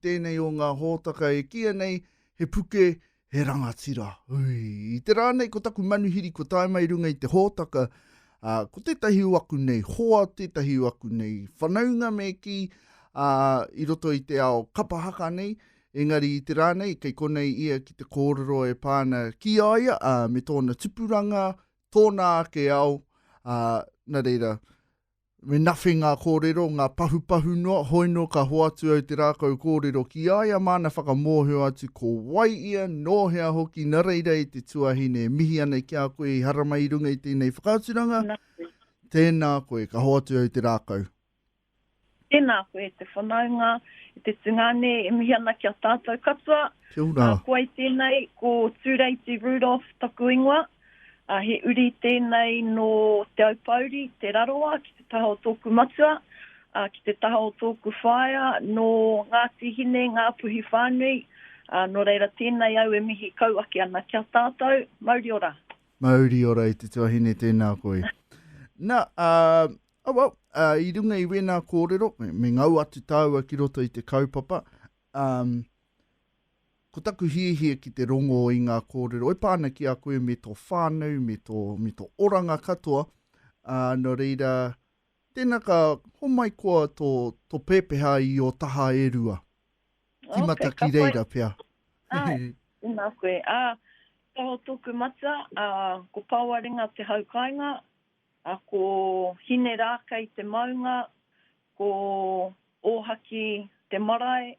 tēnei o ngā hōtaka e kīia nei he puke, he rangatira. Ui, i te rā nei ko taku manuhiri kua tae mai runga i te hōtaka, ā, ko tētahi o aku nei hoa, tētahi o aku nei whanaunga me kī, ā, i roto i te ao kapa haka nei, engari i te rā nei kei konei ia ki te kōrero e pā ana ki a ia, ā, me tōna tupuranga, tōna ake ao, ā, nā reira, Me nawhi ngā kōrero, ngā pahupahu noa, hoino ka hoatu au te rākau kōrero ki a ia māna whakamōhio atu ko wai ia, nō hea hoki, na reira e te tuahine e mihi ana ki a koe i haramai i runga i tēnei whakaaturanga, tēnā koe, ka hoatu au te rākau. Tēnā koe, te whanaunga, te tungane, e mihi ana ki a tātou katoa. Kia ora. Koe tēnei, ko Tūreiti Rudolf taku ingoa. Ā, he uri tēnei nō Te Aupōuri, Te Rarawa, ki te taha o tōku matua, ā, ki te taha o tōku whaea nō Ngāti Hine, Ngāpuhi whānui, ā, nō reira tēnei au e mihi kau ake ana ki a tātou. Mauri ora! Mauri ora i te tuahine, tēnā koe. Na, ā, oh well, ā, i runga i wēnā kōrero, me ngau atu tāua ki roto i te kaupapa, ā, Ko taku hiahia ki te rongo i ngā kōrero e pā ana ki a koe me tō whānau, me tō, me tō oranga katoa, ā, nō reira, tēnā ka homai koa tō, tō pēpeha i ō taha e rua. Tīmata okay, ki reira pea. Ai, tēnā koe. Ā, ka ho tōku matua, ā, ko Pāwaringa te hau kāinga, ā, ko Hine Rākei te maunga, ko Ōhaki te marae,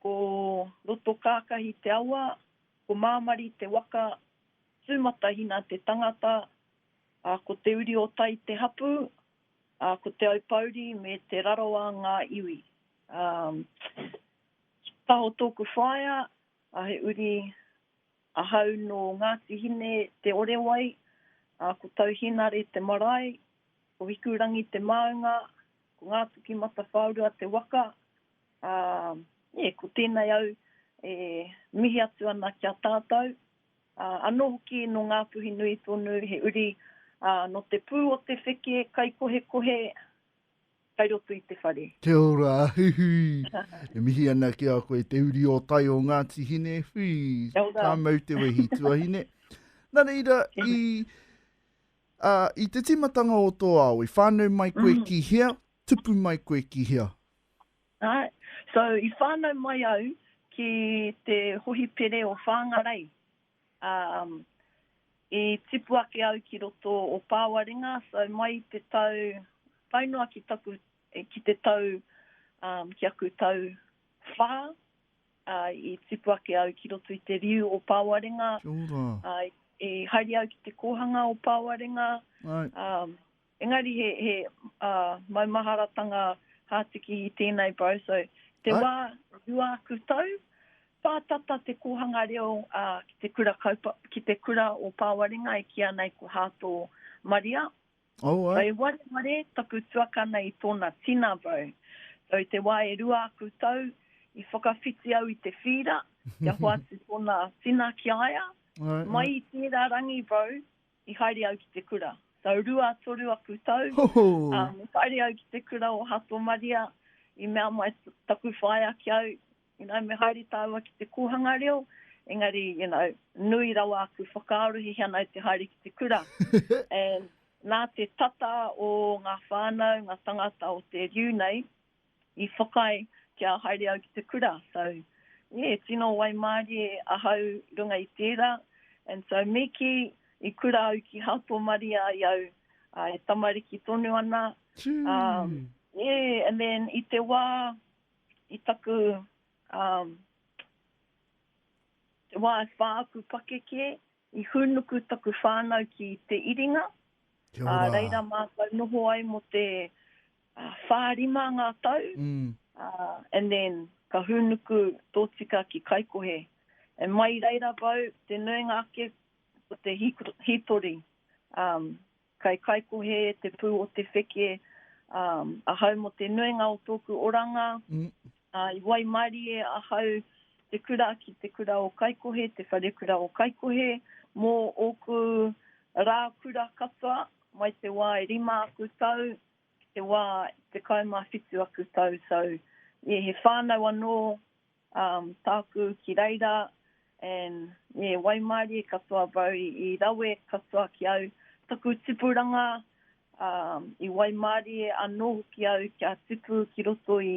Ko Rotokākahi te awa, ko Māmari te waka, Tūmatahina te tangata, ā, ko Te Uri-o-Tai te hapū, ā, ko Te Aupōuri me Te Rarawa ngā iwi. Ā, Taho tōku whaea, ā, he uri ahau nō Ngāti Hine Te Orewai, ā, ko Tauhinare te marae, ko Hikurangi te māunga, ko Ngāpuki Matawhaorua te waka, Ā, e, ko tēnei au e mihi atu ana ki a tātou, ā, anō hoki nō Ngāpuhi nui tonu, he uri, ā, nō te pū o te wheke kaikohekohe kai roto i te whare. Kia ora, huihui. E mihi ana ki a koe, te uri o tai o Ngāti Hine, hui, ka mau te wehi, tuahine. Nā reira, i, ā, i te tīmatanga o tō ao, i whānau mai koe ki hea, tupu mai koe ki hea? Alright, so i whānau mai au ki te hohipere o Whāngarei. Um, i tipu ake au ki roto o Pāwaringa, so mai i te tau, tae noa ki taku, eh, ki te tau, um, ki aku tau whā, uh, i tipu ake au ki roto i te riu o Pāwaringa. Kia ora. Uh, i haere au ki te kōhanga o Pāwaringa. Right. Um, Engari he, he uh, maumaharatanga hātiki i tēnei Barroso. Te Ai. wā rua aku tau, pātata te kōhanga reo uh, ki, te kura kaupa, ki te kura o Pāwarenga e kia nei ko Hāto Maria. Oh, ai. Wai ware ware taku tuakana i tōna tina bau. So te wā e rua aku tau, i whakawhiti au i te whīra, kia hoatu tōna tina ki aia. Ai, mai ai. i tērā rangi bau, I haere au ki te kura. Tau rua, toru aku tau, ā, i haere au ki te kura o Hatomaria, i mea mai taku whaea ki au, you know, me haere tāua ki te kōhanga reo, engari, you know, nui rawa aku whakaaro, he hea nāu te haere ki te kura. And nā te tata o ngā whānau, ngā tangata o te riu nei, i whakaae kia haere au ki te kura, so yeah, tino waimarie ahau runga i tera, and so me ki i kura au ki Hātōmaria i au e tamariki tonu ana, um, yeah, and then i te wā i taku, um, te wā e wha aku pakeke, i hūnuku taku whānau ki Te Iringa, a reira mātou noho ai mo te whā rima ngā tau, and then ka hūnuku tōtika ki Kaikohe. And mai reira wau, te nuinga ake ko te hītori. Kai Kaikohe te pū o te wheke, ahau mō te nuinga o tōku oranga, i waimarie ahau te kura ki te kura o Kaikohe, te wharekura o Kaikohe, mō ōku rā kura katoa, mai te wā e rima aku tau, ki te wā i te kai mā whitu aku tau, so yeah, he whānau anō um, tāku ki reira, and yeah, waimarie katoa bau i, i rawe katoa ki au, taku tipuranga, um, i waimarie anō hoki au kia tipu ki roto i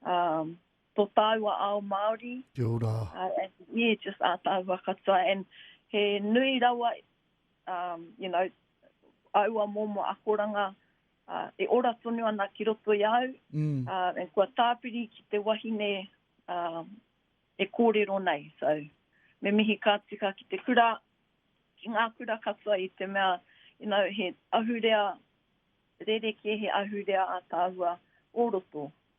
um, tō tāua ao Māori. Kia ora. Uh, and, yeah, just ā tāua katoa, and he nui rawa um, you know, aua momo akoranga uh, e ora tonu ana ki roto i au, mm. uh, and kua tāpiri ki te wahine uh, e kōrero nei. So, me mihi ka tika ki te kura, ki ngā kura katoa i te mea, you know, he ahurea, rere ke he ahurea a tāua o roto.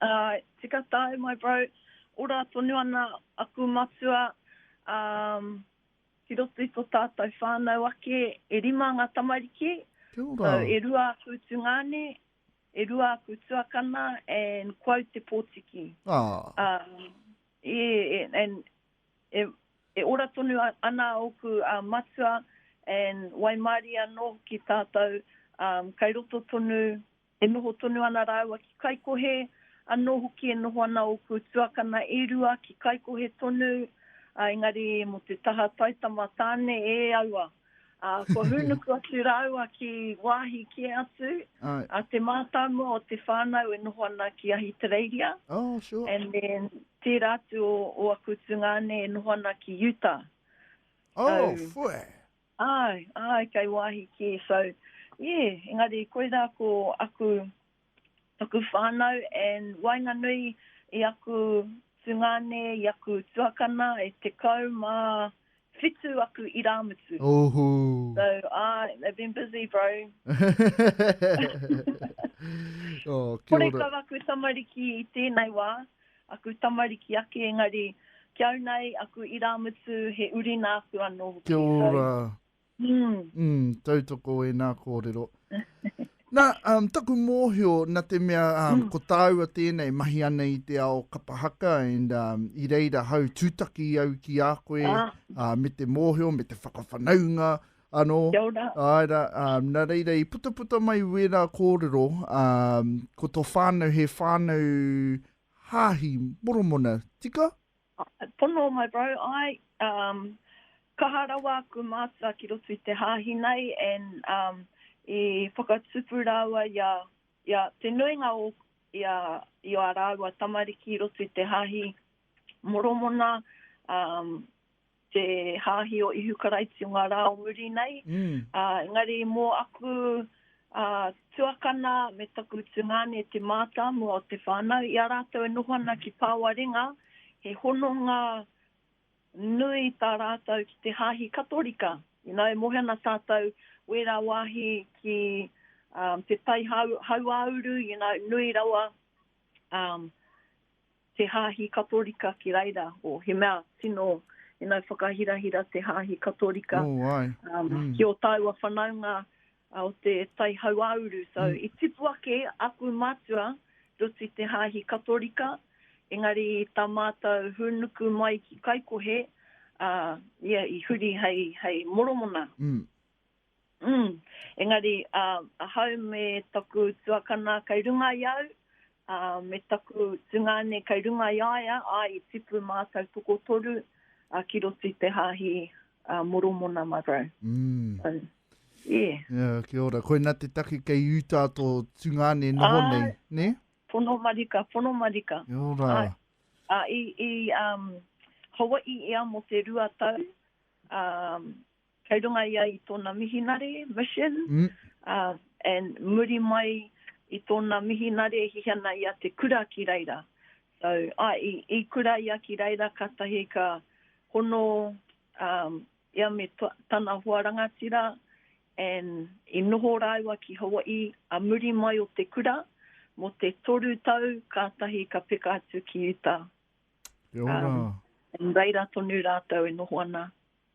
Ae, tika tae my bro. Ora tonu ana aku matua, umm, ki roto i to tatou whanau ake e rima nga tamariki, so e rua aku tungane, e rua aku tuakana and ko au te potiki. Umm, yeah, and e ora tonu ana oku matua and waimarie ano ki tatou, umm, kai roto tonu E noho tonu ana rāua ki Kaikohe, anō hoki e noho ana ōku tuakana e rua ki Kaikohe tonu, ā, engari mō te taha taitama tāne e aua, ā, kua hūnuku atu rāua ki wāhi kē atu, ā, te mātāmua o te whānau e noho ana ki Ahitereiria, and then tērā atu o ō aku tungāne e noho ana ki Utah. So. Āe, āe, kei wāhi kē, so, yeah, engari koirā ko aku, taku whānau, and waenganui i aku tungāne, i aku tuakana, e tekau mā whitu aku irāmutu. Ohu! So, āe, they've been busy, bro. Oh, kia ora. Horekau aku tamariki i tēnei wā. Aku tamariki ake engari ki au nei aku irāmutu he uri nāku anō hoki. Kia ora. Umm tautoko ēnā kōrero. Nā, taku mōhio na te mea ko tāua tēnei mahi ana i te ao kapa haka and i reira hau tūtaki au ki a koe me te mōhio me te whakawhanaunga Anō. Kia ora. Āe rā, ā, nā reira i putaputa mai wērā kōrero, ā, ko tō whānau he whānau hāhi, Moromona, tika? Pono, my bro, āe, um, kaha rawa aku mātua ki roto i te hāhi nei and um, i whakatupu rāua i a, i a te nuinga o, i a, i a rāua tamariki i roto i te hāhi Moromona, um, te hāhi o Ihu Karaiti o ngā rā o muri nei. Mm. Uh, engari mō aku uh, tuakana me taku tungāne te mātāmua o te whānau, i a rātou e noho ana ki Pāwarenga, he hononga nui tā rātou ki te hāhi katorika. You know, e mohe ana tātou wērā wāhi ki um, te tai hau, hauāuru, you know, nui rawa um, Te Hāhi Katorika ki reira, o, he mea tino inau whakahirahira te Hāhi Katorika, ki o tāua whanaunga o te tai hauāuru. So, i tipu ake aku mātua, Ruti Te Hāhi Katorika, engari tā mātou hūnuku mai ki Kaikohe, ia i huri hei, hei Moromona. Umm, engari, ā, ahau me taku tuakana kei runga i au, ā, me taku tungāne kei runga i a ia, āe, i tipu mātou tokotoru, ā, ki roto i te hāhi, ā, Moromona marau. Umm. Ā, ē. Ā, kia ora. Koina te take kei Utah tō tungāne noho nei, nē? Āe, pono marika, pono marika. Kia ora. Āe, ā, i, i, ā, Hawai'i ia mō te rua tau, ā, kei runga ia i tōna mihinare, mission, ā, and muri mai i tōna mihinare e hihi ana i a te kura ki reira. So, ā, i, i kura ia ki reira kātahi ka hono, ā, ia me to, tana hoa rangatira, and i noho rāua ki Hawai'i, ā, muri mai o te kura, mō te toru tau kātahi ka peka atu ki Utah. Kia ora. Ā, and reira tonu rātou e noho ana.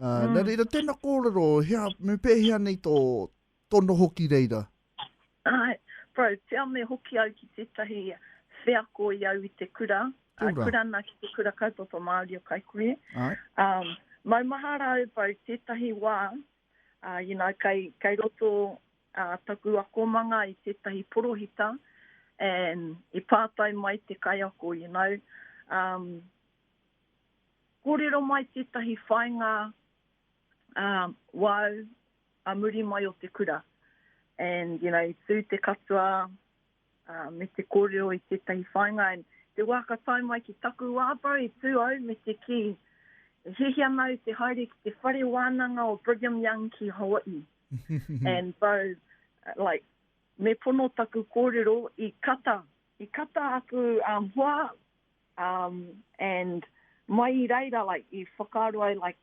Uh, mm. Nā reira, tēnā kōrero, hea, me pēhea nei tō, tō noho ki reira? Ai, bro, te ame hoki au ki tētahi wheako i au i te kura. Kura. Uh, kura nā ki te kura kaupapa Māori o Kaikohe. Ai. Um, mau mahara au, bro, tētahi wā, uh, you know, kai, kai roto uh, taku akomanga i tētahi porohita, and i pātai mai te kaiako, you know, um, Kōrero mai tētahi whāinga wāu a muri mai o te kura and you know i tū te katoa me te kōrero i tētahi whāinga and te wā ka tae mai ki taku wā bro i tū au me te kī e hiahia ana au te haere ki te whare wānanga o Brigham Young ki Hawaii and bro like me pono taku kōrero i kata I kata aku um hoa um and mai i reira like i whakaaro ai like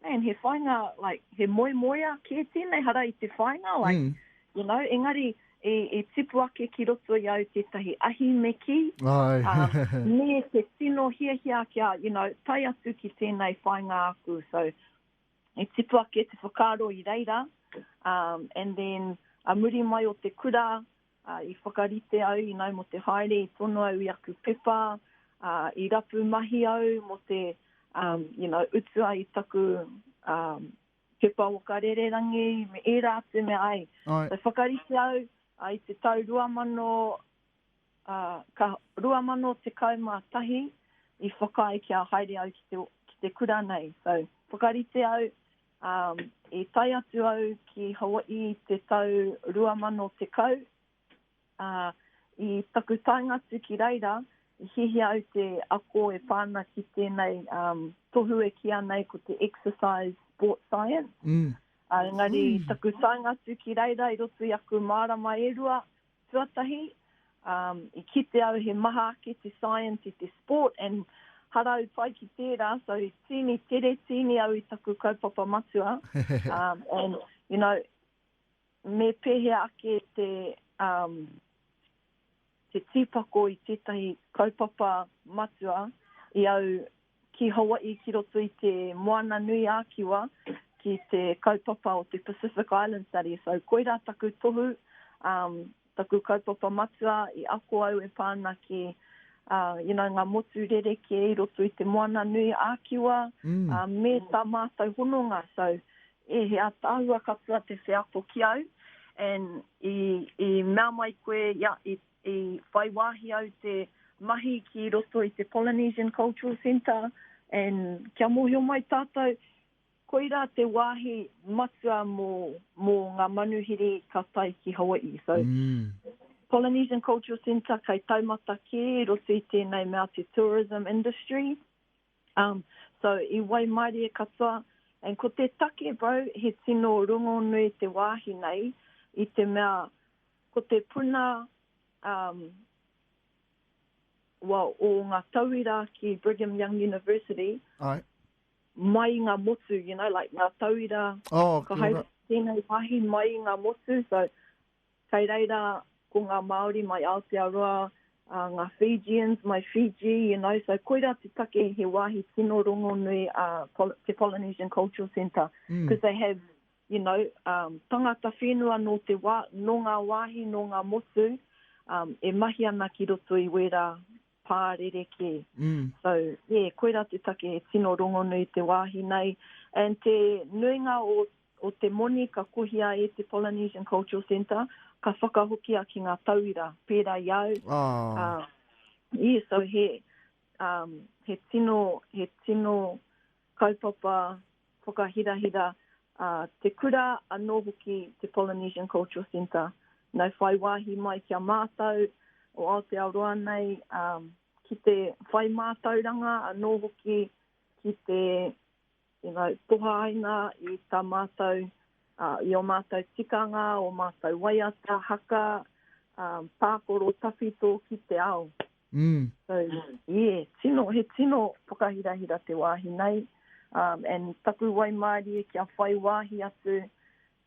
man he whainga like he moemoea kē tēnei hara i te whainga like you know engari i i tipu ake ki roto i au tētahi ahi me kī um me te tino hiahia kia you know tae atu ki tēnei whainga aku so i tipu ake te whakaaro i reira um and then a muri mai o te kura Ā, i whakarite au inai mō te haere, i tono au i aku pepa, ā, i rapu mahi au mō te, um, you know, utua i taku, um, pepa waka rererangi, me ērā atu mea, āe. Āe. So, whakarite au, ā, i te tau 2000, ā, ka, 2011, i whakaae kia haere au ki te, ki te kura nei. So, whakarite au, I tae atu au ki Hawaii i te tau 2010. I taku taenga atu ki reira, i hiahia au te ako e pā ana ki tēnei tohu e kīa nei ko te Exercise Sports Science. Engari, taku taenga atu ki reira i roto i aku mārama e rua, Tuatahi, um, i kite au he maha ake te science i te sport and harau pai ki tērā, so tīni tere, tīni au i taku kaupapa matua. um, and, you know, me pēhea ake te, um, te tīpako i tētahi kaupapa matua i au ki Hawaii ki roto i te Moana Nui ā Kiwa ki te kaupapa o te Pacific Island Study. So koirā taku tohu, um, taku kaupapa matua i ako au e pā ana ki uh, you know, ngā motu rerekē i roto i te Moana Nui ā Kiwa mm. uh, me tā mātou hononga. So e he ataahua katoa te wheako ki au and i, i mea mai koe, ia, i I whai wāhi au te mahi ki roto i te Polynesian Cultural Centre and kia mōhio mai tātou, koirā te wāhi matua mō, mō ngā manuhiri ka tae ki Hawai'i. So, Polynesian Cultural Centre kei taumata kē i roto i tēnei mea te tourism industry. Um, so, i waimarie katoa. And ko te take, bro, he tino rongonui te wāhi nei i te mea Ko te puna um, wa, o ngā tauira ki Brigham Young University, Ai. mai ngā motu, you know, like ngā tauira, oh, ka hai tēnei wāhi mai ngā motu, so kei reira ko ngā Māori mai Aotearoa, uh, ngā Fijians mai Fiji, you know, so koira te take he wāhi tino rongonui a uh, te Polynesian Cultural Centre, because mm. they have you know, um, tangata whenua nō te wā, nō ngā wāhi, nō ngā motu, um, e mahi ana ki roto i wērā pā rerekē. Mm. So, yeah, koirā te take he tino rongonui te wāhi nei. And te nuinga o, o te moni ka kohia e te Polynesian Cultural Centre, ka whakahokia ki ngā tauira, pērā i au. Oh. Uh, yeah, so he, um, he tino, he tino, kaupapa whakahirahira a te kura anō hoki te Polynesian Cultural Centre. Nau whai wāhi mai ki a mātou o Aotearoa nei ki te whai mātauranga anō hoki ki te you know, tohaina i tā mātou, uh, i o mātou tikanga, o mātou waiata, haka, um, pākoro tawhito ki te ao. Mm. So, yeah, tino, he tino whakahirahira te wāhi nei, um, and taku waimārie kia whai wāhi atu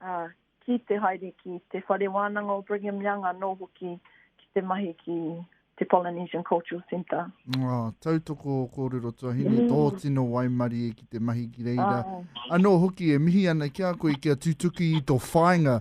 uh, ki te haere ki te whare wānanga o Brigham Young, anō hoki ki te mahi ki te Polynesian Cultural Centre. Oh, tautoko o kōrero tuahine, mm. tō tino waimari e ki te mahi ki reira. Oh. Anō hoki e mihi ana ki a koe kia tutuki i tō whāinga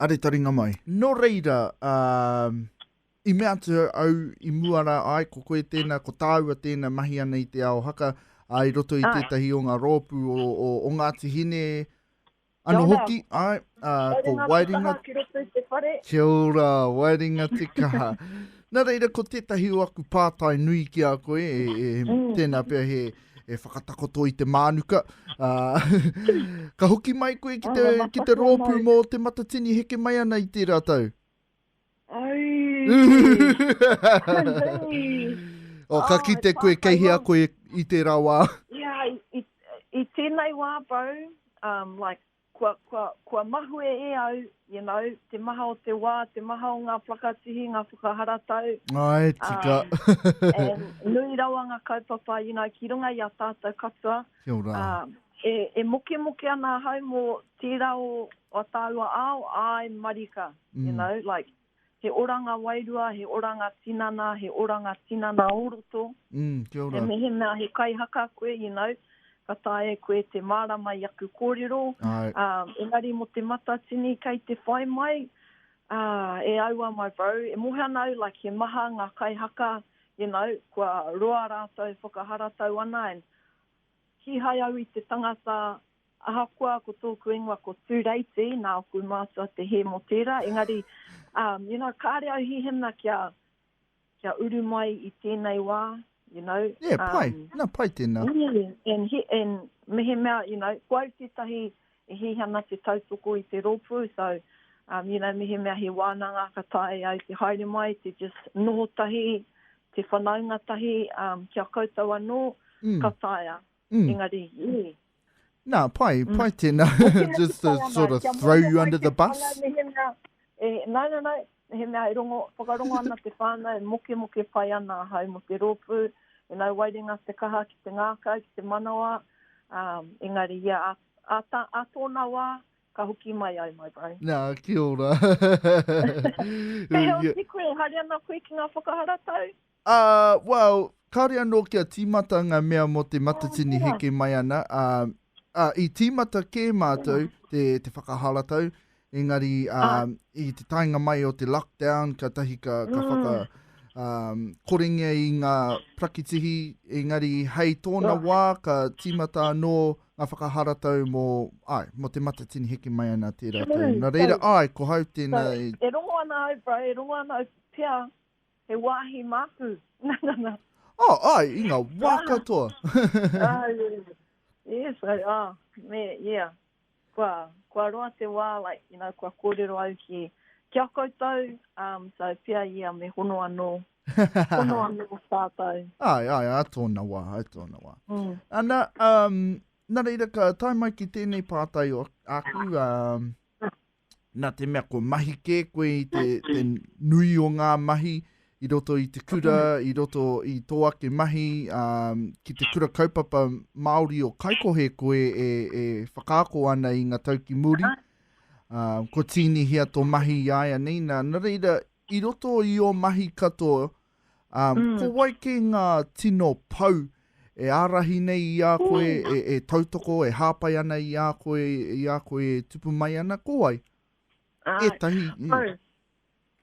are taringa mai. Nō reira, ā, i mea atu au i mua rā, āe, ko koe tēnā, ko tāua tēnā mahi ana i te ao haka, ā, i roto i Āe. tētahi o ngā rōpū o, o, o Ngāti Hine, Kia anō ora. hoki, āe, ā, Haere ko ngā te Waeringa kaha ki roto i te whare. Kia ora, Waeringa Te Kaha. Nā reira, ko tētahi o aku pātai nui ki a koe, e, e, Mm. tēnā pea he, e whakatakoto i te mānuka. Uh, ka hoki mai koe ki te, oh, ki te rōpū mō te matatini heke mai ana i tērā tau. Ai! o, ka oh, ki te koe kei hea koe i tērā wā. Ia, i, i, i tēnei wā, Bo, um, like, Kua, kua, kua mahue e au, you know, te maha o te wā, te maha o ngā whakatihi, ngā whakaharatau. Āe, ā, tika. and nui rawa ngā kaupapa, you know, ki runga i a tātou katoa. Kia ora. Ā, e, e mokemoke ana ahau mō tērā o, o a tāua ao, āe, marika, you know, like. he oranga wairua, he oranga tinana, he oranga tinana o roto. Mm, kia ora. He mehemea he kaihaka koe, you know, ka taea e koe te mārama i aku kōrero. Ai. Um, engari mo te matatini kei te whai mai, uh, e aua my bro, e mohe ana au, like, he maha ngā kaihaka, you know, kua roa rātou whakaharatau ana, and kīhai au i te tangata, Ahakoa ko tōku ingoa ko Tūreiti, nāku mātua te hē mō tērā, engari, um, you know, kāre au hihina kia, kia uru mai i tēnei wā, you know. Yeah, um, pai, nā pai tēnā. Yeah, and, he, and mehemea, you know, ko au tētahi e hihana te tautoko i te rōpū, so, um, you know, mehemea he wānanga ka tae ai te haere mai, te just noho tahi, te whanaunga tahi, um, kia koutou anō, mm. ka taea. Mm. Engari, i. Nā, pai, mm. pai tēnā. Just to sort of throw you under the bus. E, nā, nā, nā, he mea e rongo, whakarongo ana te whānau, e moke moke pai ana hau mo te rōpū, e nau wairinga te kaha ki te ngākau, ki te manawa, um, engari ia a, a, a, a tōna wā, ka hoki mai ai, my bro. Nā, ki ora. Te heo si koe, haere ana koe ki ngā whakaharatau? Ā, well, kāore anō kia tīmata ngā mea mō te matatini heke mai ana, ā, ā, i tīmata kē mātou te, te whakaharatau, engari, ā, i te taenga mai o te lockdown, kātahi ka, ka mm. whaka, ā, korengia i ngā prakitihi, engari, hei tōna wā, ka tīmata anō ngā whakaharatau mō, ai, mō te matatini heke mai ana tērā tau. Nā reira, ai, ko hau tēnā... E rongo ana au, bro, e rongo ana au, pia, He wāhi māku. Oh, ai, i ngā wā katoa. Yes, ai, oh, me, yeah. Kua, kua roa te wā, like, you know, kua kōrero au ki, ki a koutou, um, so, pia ia me hono anō, hono anō tātou. Ai, ai, ai tōna wā, ai tōna wā. Mm. Ana, um, nā reira ka tae mai ki tēnei pātai o aku, um, nā te mea kua mahi kē koe i te, te nui o ngā mahi i roto i te kura, i roto i tō ake mahi, um, ki te kura kaupapa Māori o Kaikohe koe e, e whakaako ana i ngā tau ki muri. Uh, ko tīnihia tō mahi i aia nei, nā, nā reira, i roto i o mahi katoa, Ā, ko wai kē ngā tino pou e ārahi nei i a koe, e, e tautoko, e hāpai ana i a koe, i a koe e tupu mai ana, ko wai? Āe, Ētahi, mm. hau,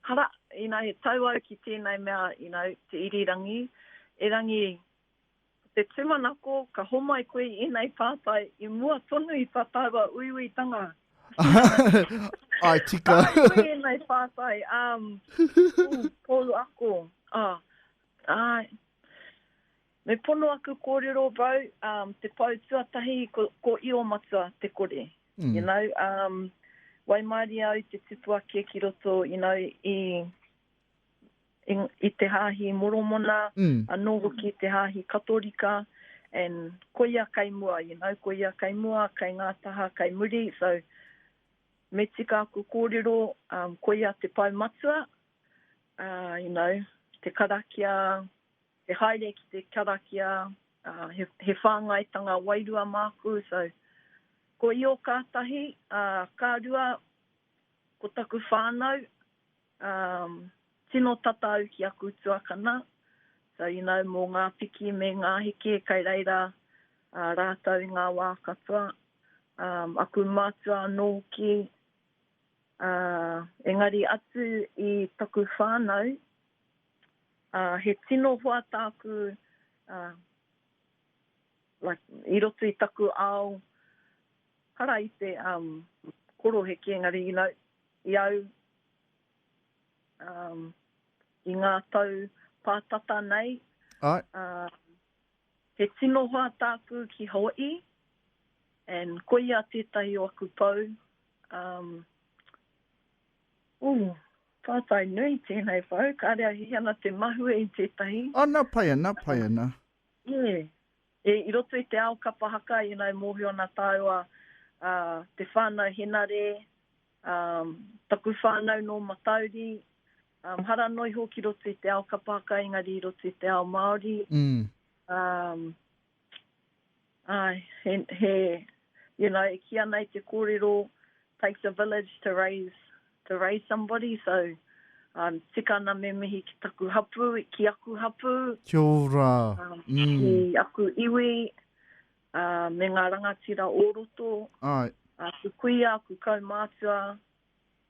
hara, you know, he tau au ki tēnei mea, you know, te irirangi, erangi Ko te tūmanako, ka homai koe i ēnei pātai i mua tonu i tā tāua uiuitanga. Ai tika. Ai koe ēnei pātai, ā, um, pou ako. Ā, ai. Me pono aku kōrero, bro, um, te pou tuatahi ko, ko Iomatua te kore. Mm. You know, um, waimarie au te tipua kia ki roto, you know, i i te hāhi Moromona, anō hoki i te hāhi Katorika, and koia kei mua, you know, koia kei mua, kei ngā taha kei muri, so me tika aku kōrero, um, koia te Pou Matua, uh, you know, te karakia, te haere ki te karakia, uh, he, he whāngaitanga wairua māku, so, ko Io kātahi, uh, ka rua, Ko taku whānau, um, tino tata au ki aku tuakana, so you know, mō ngā piki me ngā heke kei reira uh, rātou i ngā wā katoa. Um, aku mātua anō hoki, uh, engari atu i taku whānau, uh, he tino hoa tāku uh, like, i roto i taku ao, Hara i te um koroheke engari you know i au um i ngā tau pā tata nei Aye. um he tino hoa tāku ki Hawaii and koia tētahi o aku pou um ooh pātai nui tēnei pou kāre au hiki ana te mahue i tētahi. Ana pai ana pai ana. Yeah. E, i roto i te ao kapa haka, ina e mōhio ana tāua, a, te whānau Henare, a, taku whānau nō Matauri, a, hara noa iho ki roto i te ao kapa haka engari i roto i te ao Māori, a, āe, he, he, you know, e kī ana i te kōrero, takes a village to raise to raise somebody so um tika ana me mihi ki taku hapu ki aku hapu Kia ora. um Mm. ki aku iwi um me nga rangatira o roto Ae. aku kuia aku kaumatua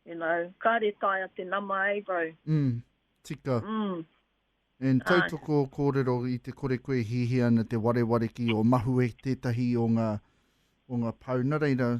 you know kare taea te nama eh bro Mm. Tika. mm And Ae. tautoko korero i te kore koe hihia ana te wareware ki o Mahue tetahi o nga o nga pau na reira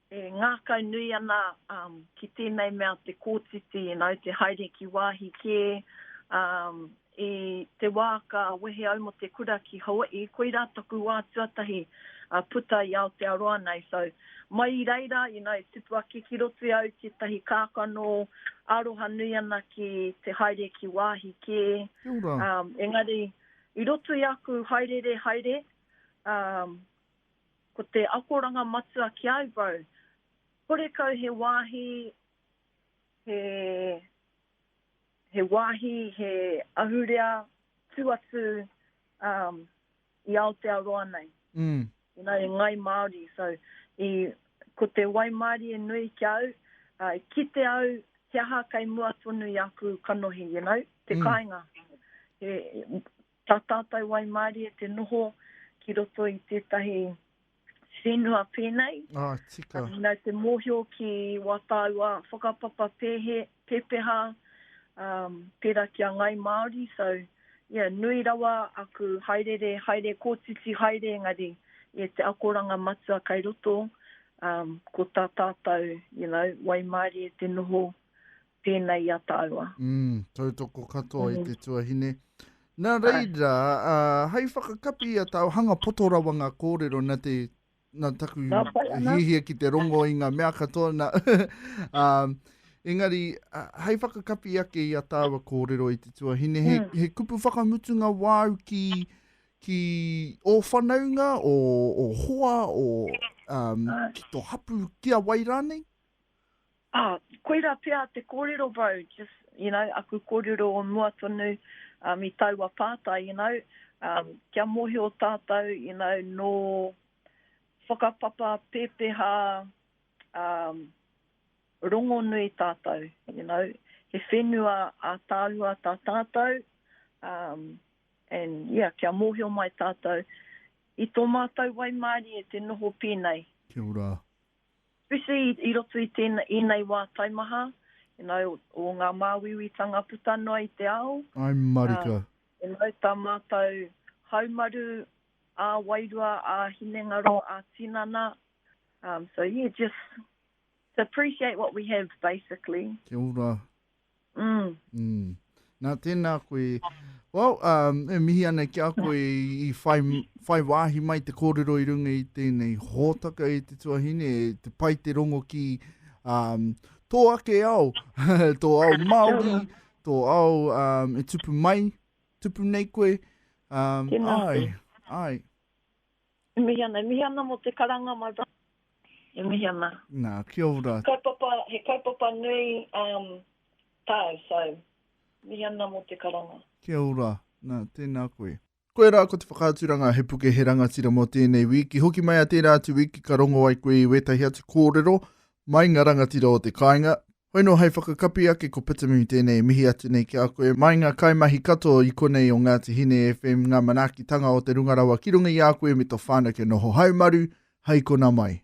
E ngākau nui ana ki tēnei mea te kōtiti nāu te haere ki wāhi kē i te wā ka wehe au mō te kura ki Hawaii, koirā taku wā tuatahi puta i Aotearoa nei, so mai i reira you know tupu ake ki roto i au tētahi kākano, aroha nui ana ki te haere ki wāhi kē, engari i roto i aku haereere haere Ko te akoranga matua ki a Ivo, horekau he wāhi, he, he wāhi, he ahurea tū atu um, i Aotearoa nei. Mm. You know, i Ngai Māori. So, i, ko te waimārie nui ki au, uh, i kite au he aha kei mua tonu i aku kanohi, you know, te mm. kāinga. He, Tā tātou waimarie te noho ki roto i tētahi whenua pēnei. Nā te mōhio ki wā tāua whakapapa pēhe, pēpeha, pērā ki a Ngāi Māori. So, yeah, nui rawa aku haerere, haere kōtiti haere engari, yeah, te akoranga matua kai roto, ko tā tātou, you know, waimarie te noho tēnei i a tāua. Mm, tautoko katoa mm. i te tuahine. Nā reira, uh, hei whakakapi i a tāua, hanga poto rawa ngā kōrero na te na taku hihia ki te rongo i ngā mea katoa. Na, um, engari, uh, hei whakakapi ake i a tāua kōrero i te tuahine, he, mm. he kupu whakamutunga wāu ki ki o whanaunga, o, o hoa, o um, ki to hapu, ki a wai rānei? Ā, koirā pea te kōrero bro, just, you know, aku kōrero o mua tonu um i taua pātai, you know, um kia mōhio tātou, you know, nō whakapapa pēpeha um rongonui tātou, you know, he whenua ātaahua tā tātou, um and, yeah, kia mōhio mai tātou i tō mātou waimarie te noho pēnei. Kia ora. Whiwhi i roto i tēnei, ēnei wā taimaha, you know, o ngā māuiuitanga puta noa i te ao. I'm marika. You know, tā mātou haumaru ā-wairua, ā-hinengaro, ā-tinana, so yeah, just to appreciate what we have, basically. Kia ora, Mm. Mm. Nā, tēnā koe. Well, um, e mihi ana ki a koe i whai, whai wāhi mai te kōrero i runga i tēnei hōtaka i te tuahine, te pai te rongo ki um, tō ake ao, tō ao Māori, tō ao um, e tupu mai, tupu nei koe. Um, ai, ai. E mihi ana, e mihi ana mo te karanga my brother. E mihi ana. Na, kia ora. Kaupapa, he kaupapa nui um tau, so mihi ana mo te karanga. Kia ora, na, tena koe. Koia rā ko te whakaaturanga He Puke He Rangatira mō tēnei wīki hoki mai a tērā atu wīki ka rongo ai koe i wētahi atu kōrero mai nga rangatira o te kāinga Hoi nō hei whakakapi ake ko Pitimi tēnei e mihi atu nei ki a koe mai ngā kaimahi katoa i konei o Ngāti Hine FM ngā manaakitanga o te Runga Rawa ki runga i a koe me to whānau kia noho haumaru hai kona mai.